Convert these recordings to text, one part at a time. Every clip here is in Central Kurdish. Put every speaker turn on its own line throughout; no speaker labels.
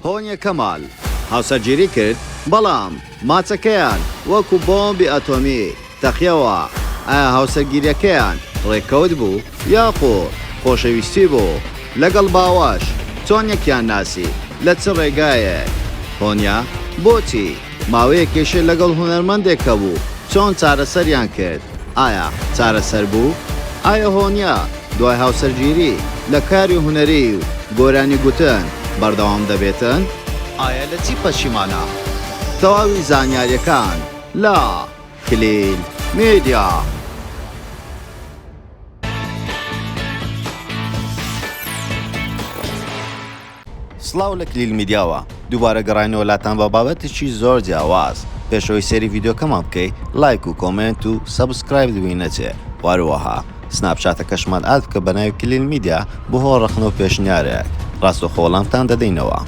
هۆنیە کەمال هاوسەرگیری کرد بەڵام ماچەکەیان وەکو بۆمبی ئەتۆمی تەقیەوە، ئایا هاوسەرگیریەکەیان ڕێککەوت بوو یاخود خۆشەویستی بوو؟ لەگەڵ باوەش چۆن یەکیان ناسی لە چ ڕێگایەک؟ هۆنیە بۆچی ماوەیەک کێشەی لەگەڵ هونەرمەندێک هەبوو چۆن چارەسەریان کرد؟ ئایا چارەسەر بوو؟ ئایا هۆنیە دوای هاوسەرگیری، لە کاری هونەری و گۆرانی گوتن بەردەوام دەبێتن؟ ئایا لە چی پەشیمانە؟ تەواوی زانیاریەکان لە، کلیل میدیا. سڵاو لە کلیل میدیاوە دووبارە گەڕاینەوە لاتان بە بابەتێکی زۆر جیاواز پێش ئەوەی سێری ڤیدیۆکەمان بکەی لایک و کۆمێنت و سەبسکرایب دووی نەچێ واروەها سناپچاتەکەشمان ئاد بکە بە ناوی کلیل میدیا بۆ هۆ ڕەخنە و پێشنیارێک ڕاستەخۆ وەڵامتان دەدەینەوە.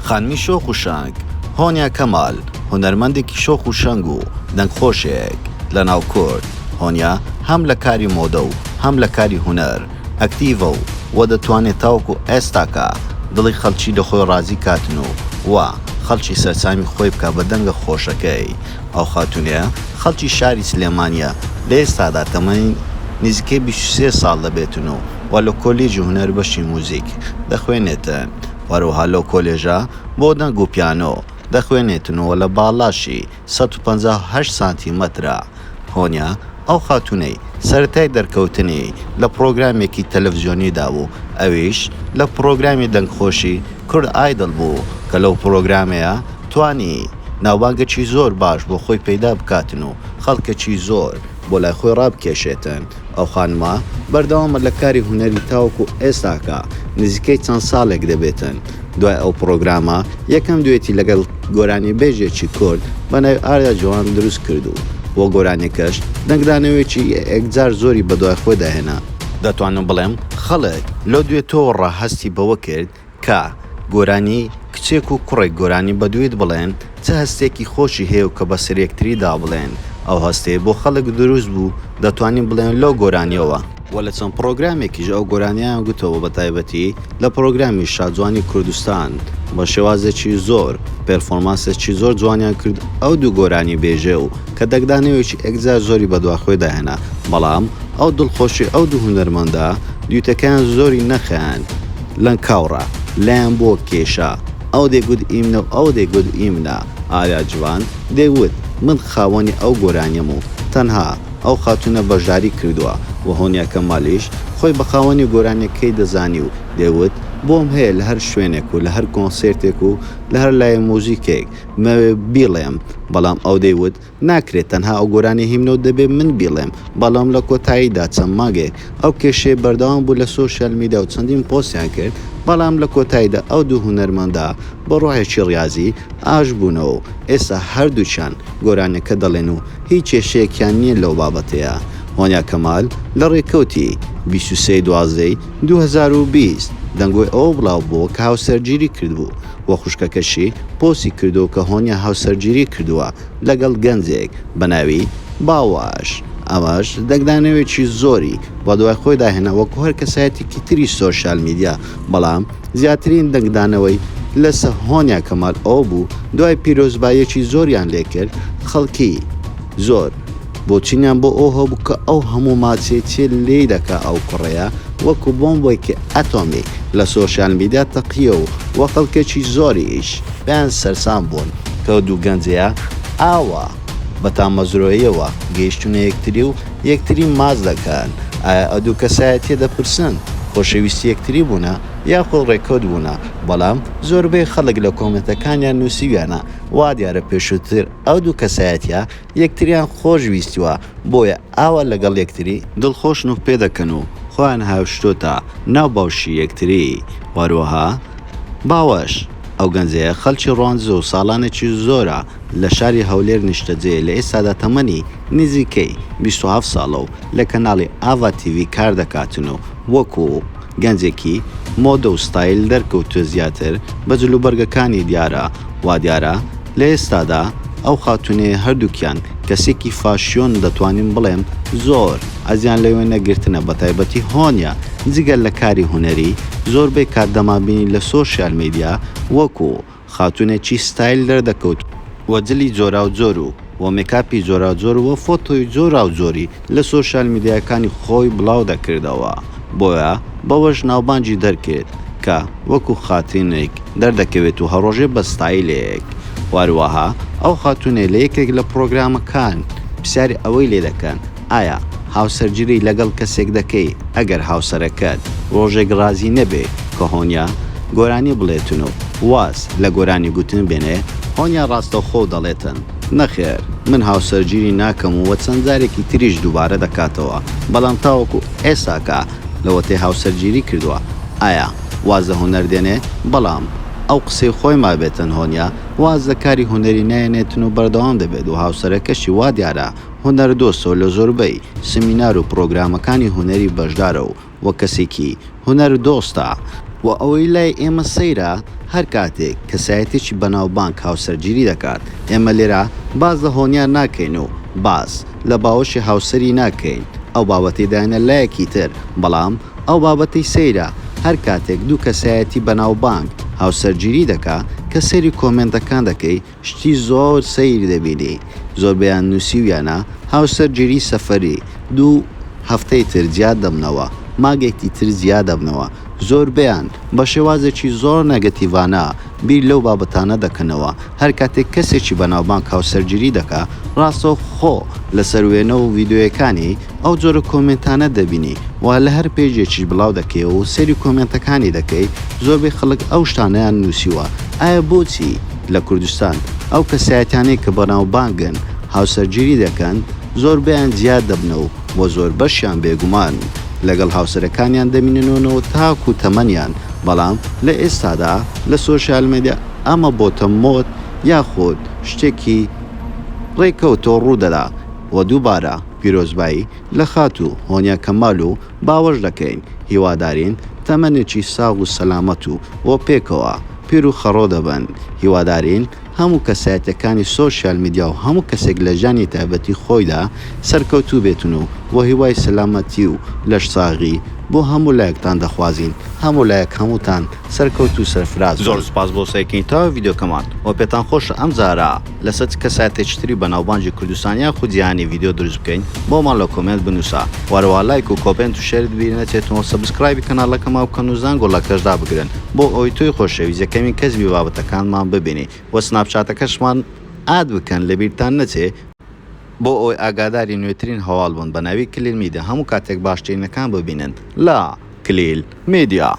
خانمی شۆخ و شەنگ، هۆنیا کەمال، هونەرمەندێکی شۆخ و شەنگ و دەنگخۆشێک لەناو کورد، هۆنیا هەم لە کاری مۆدە و هەم لە کاری هونەر، ئەکتیڤە و وە دەتوانێت تاوەکو ئێستاکە دڵی خەڵکی لە خۆی ڕازی کاتن و وە خەڵکی سەرسامی خۆی بکا بە دەنگە خۆشەکەی ئەو خاتونەیە خەڵکی شاری سلێمانیە لە ئێستادا تەمەنی نزیکەی بیست و سێ ساڵ دەبێتن و وە لە کۆلیجی هونەر بەشی موزیک دەخوێنێتن وە هەروەها لەو کۆلێژە بۆ دەنگ و پیانۆ دەخوێنێتن و وە لە باڵاشی سەد و پەنجا و هەشت سانتی مەترە. هۆنیا ئەو خاتوونەی سەرەتای دەرکەوتنی لە پڕۆگرامێکی تەلەفزیۆنیدا بوو، ئەویش لە پڕۆگرامی دەنگخۆشی کورد ئایدڵ بوو کە لەو پڕۆگرامەیە توانی ناوبانگەکی زۆر باش بۆ خۆی پەیدا بکاتن و خەڵکەکی زۆر بۆ لای خۆی ڕابکێشێتن. ئەو خانمە بەردەوامە لە کاری هونەری تاوەکو ئێستاکە نزیکەی چەند ساڵێک دەبێتن دوای ئەو پڕۆگرامە یەکەم دوێتی لەگەڵ گۆرانیبێژێکی کورد بە ناوی ئاریا جوان دروست کرد و بۆ گۆرانیەکەش دەنگدانەوەیەکی یەکجار زۆری بەدوای خۆیدا هێنا. دەتوانم بڵێم خەڵک لەو دوێتەوە ڕا هەستی بەوە کرد کا، گۆرانی، کچێک و کوڕێک گۆرانی بەدوویت بڵێن چ هەستێکی خۆشی هەیە و کە بەسەر یەکتریدا بڵێن ئەو هەستەی بۆ خەڵک دروست بوو دەتوانین بڵێن لەو گۆرانیەوە، وە لە چەند پڕۆگرامێکیش ئەو گۆرانیەیان گوتەوە بە تایبەتی لە پڕۆگرامی شاجوانی کوردستان بە شێوازێکی زۆر پێرفۆرمانسێکی زۆر جوانیان کرد ئەو دوو گۆرانی بێژێ و کە دەنگدانەوەیەکی ئێکجار زۆری بەدواخۆیدا هێنا بەڵام ئەو دڵخۆشی ئەو دوو هونەرمەندە دویتەکەیان زۆری نەخایاند لەنکاوڕا لایان بۆ کێشا، ئەو دەیگوت ئیمنە و ئەو دەیگوت ئیمنە، ئاریا جڤان دەیوت من خاوەنی ئەو گۆرانیەم و تەنها ئەو خاتوونە بەشداری کردووە و هۆنیا کەمالیش خۆی بە خاوەنی گۆرانیەکەی دەزانی و دەیوت بۆم هەیە لە هەر شوێنێک و لە هەر کۆنسێرتێک و لە هەر لایەی موزیکێک بمەوێ بیڵێم، بەڵام ئەو دەیوت ناکرێت تەنها ئەو گۆرانیە هیم نەوت دەبێت من بیڵێم بەڵام لە کۆتاییدا چەند مانگێک ئەو کێشەیە بەردەوام بوو لە سۆشیال میدیا و چەندین پۆستیان کرد بەڵام لە کۆتاییدا ئەو دوو هونەرمەندە بە ڕۆحێکی ڕیازی ئاش بوونەوە و ئێستا هەردووکیان گۆرانیەکە دەڵێن و هیچ کێشەیەکیان نیە لەو بابەتەیا هۆنیا کەمال لە ڕێکەوتی بیست و سێ ی دوازدە ی دوو هەزار و بیست دەنگۆی ئەوە بڵاو بۆوە کە هاوسەرگیری کردبوو و خوشکەکەشی پۆستی کردووە کە هۆنیا هاوسەرگیری کردووە لەگەڵ گەنجێک بە ناوی باوەش ئەمەش دەنگدانەوێکی زۆری بەدوای خۆیدا هێنا وەکو هەر کەسایەتێکی تری سۆشیال میدیا بەڵام زیاترین دەنگدانەوەی لەسە هۆنیا کەمال ئەوە بوو دوای پیرۆزباییەکی زۆریان لێکرد خەڵکی زۆر بۆچونیان بۆ ئەوە هەبوو کە ئەو هەموو ماچەی چێ لێی دەکا ئەو کوڕەیە وەکو بۆمبێکی ئەتۆمی لە سۆشیال میدیا تەقیە و وە خەڵکێکی زۆریش پێیان سەرسام بوون کەو دوو گەنجەیە ئاوا بە تامەزرۆییەوە گەیشتونە یەکتری و یەکتری ماچ دەکەن ئایا ئەدوو کەسایەتیە دەپرسن خۆشەویستی یەکتری بوونە یاخود ڕێکەوت بوونە بەڵام زۆربەی خەڵک لە کۆمێنتەکانیان نوسیویانە وادیارە پێشوتر ئەو دوو کەسایەتیە یەکتریان خۆش ویستوە بۆیە ئاوا لەگەڵ یەکتری دڵخۆشن و پێدەکەن و خۆیان هاوشتۆتە ناو باوشی یەکتری وەروەها باوەش ئەو گەنجەیە خەلکی ڕوانزو سالانێکی زۆرە لە شاری هەولێر نیشتەجێیە لە ئێستادا تەمەنی نیزیکەی بیست و هەفت سالە و لە کەنالی ئاڤا تیڤی کاردەکاتن و وەکو گەنجێکی مۆدە و ستایل دەرکەوتووە زیاتر بە جل و بەرگەکانی دیارە، وا دیارە لە ئێستادا ئەو خاتوونەی هەردووکیان کەسێکی فاشیۆن دەتوانین بڵێم زۆر ئەزیان لەوێ نەگرتنە بەتایبەتی هۆنیا جگە لە کاری هونەری زۆربەی کات دەمانبینی لە سۆشیال میدیا وەکو خاتونێکی ستایل دەردەکەوت و جلی جۆراو جۆر و و مێکاپی جۆراو جۆر و فۆتۆی جۆراو جۆری لە سۆشیال میدیاکانی خۆی بڵاو دەکردەوە بۆیە بەوەش ناوبانگی دەرکرد کە وەکو خاتینێک دەردەکەوێت و هەڕۆژێ بە ستایلێک وەروەها ئەو خاتونەی لە یەکێک لە پڕۆگرامەکان پرسیاری ئەوەی لێدەکەن ئایا هاوسەرگیری لەگەڵ کەسێک دەکەی ئەگەر هاوسەرەکەت ڕۆژێک ڕازی نەبێ کە هۆنیا گۆرانی بڵێتن و واز لە گۆرانی گوتن بێنێ؟ هۆنیا ڕاستەوخۆ دەڵێتن نەخێر من هاوسەرگیری ناکەم و چەند جارێکی تریش دووبارە دەکاتەوە بەڵام تاوەکو ئێستاکە لەوەتەی هاوسەرگیری کردووە ئایا واز لە هونەر دێنێ؟ بەڵام ئەو قسەی خۆی مابێتن هۆنیا واز لە کاری هونەری نایەنێتن و بەردەوام دەبێت و هاوسەرەکەشی وا دیارە هونەردۆستەو لە زۆربەی سمینار و پڕۆگرامەکانی هونەری بەشدارە و وەک کەسێکی هونەر دۆستە، وە ئەوەی لای ئێمە سەیرە هەر کاتێک کەسایەتیەکی بەناوبانگ هاوسەرگیری دەکات ئێمە لێرە باس لە هۆنیار ناکەین و باس لە باوەشی هاوسەری ناکەین ئەو بابەتەی داینە لایەکی تر بەڵام ئەو بابەتەی سەیرە هەر کاتێک دوو کەسایەتی بەناوبانگ هاوسەرگیری دەکا کە سەیری کۆمێنتەکان دەکەی شتی زۆر سەیر دەبینی زۆربەیان نوسیویانە هاوسەر جیری سەفەری دوو هەفتەی تر جیا دەمنەوە ماگێکی تر جیا دەبنەوە زۆربەیان بە شێوازێکی زۆر نەگەتیڤانە بیر لەو بابەتانە دەکەنەوە هەر کاتێک کەسێکی بەناوبانگ هاوسەر جیری دەکا ڕاستە خۆ لەسەر وێنە و ڤیدۆیەکانی ئەو جۆرە کۆمێنتانە دەبینی و لە هەر پێجێکیش بڵاو دەکەی و سەیری کۆمێنتەکانی دەکەی زۆربەی خەڵک ئەو شتانەیان نوسیوە ئایە بۆچی لە کوردستان ئەو کەسایەتیانەی کە بەناوبانگن هاوسەرگیری دەکەن زۆربەیان جیا دەبنەوە و بۆ زۆربەشیان بێگومان لەگەڵ هاوسەرەکانیان دەمیننەوەنەوە تاکو تەمەنیان بەڵام لە ئێستادا لە سۆشیال مێدیا ئەمە بۆتە مۆد یاخود شتێکی ڕێکەوتەو ڕوودەدا و دووبارە پیرۆزبایی لە خاتوو هۆنیا کەمال و باوەش دەکەین، هیوادارین تەمەنێکی ساغ و سەلامەت و بۆ پێکەوە پیر و خەڕۆ دەبن، هیوادارین هەموو کەسایەتیەکانی سۆشیال میدیا و هەموو کەسێک لە ژیانی تایبەتی خۆیدا سەرکەوتوو بێتن و بۆ هیوای سەلامەتی و لەش ساغی بۆ هەموو لایەکتان دەخوازین، هەموو لایەک هەمووتان. سەرکەوت و سەرفراز بن. زۆر سوپاس بۆ سەیرکردنی تەواوی ڤیدیۆکەمان وە پێتان خۆشە ئەم جارە لەسەر چ کەسایەتێکی تری بەناوبانگی کوردستان یاخود جیهانی ڤیدیۆ دروست بکەین بۆمان لە کۆمێنت بنووسە وە هەروەها لایک و کۆپێنت و شێرت بیر نەچێتن وە سەبسکرایبی کەناڵەکەمان بکەن و زەنگۆڵەکەش دابگرن بۆ ئەوەی تۆی خۆشەویست یەکەمین کەس بی بابەتەکانمان ببینی وە سناپچاتەکەشمان ئاد بکەن لەبیرتان نەچێ بۆ ئەوەی ئاگاداری نوێترین هەواڵ بن بە ناوی کلیل میدیا هەموو کاتێک باشترینەکان ببینن لە کلیل. میدیا.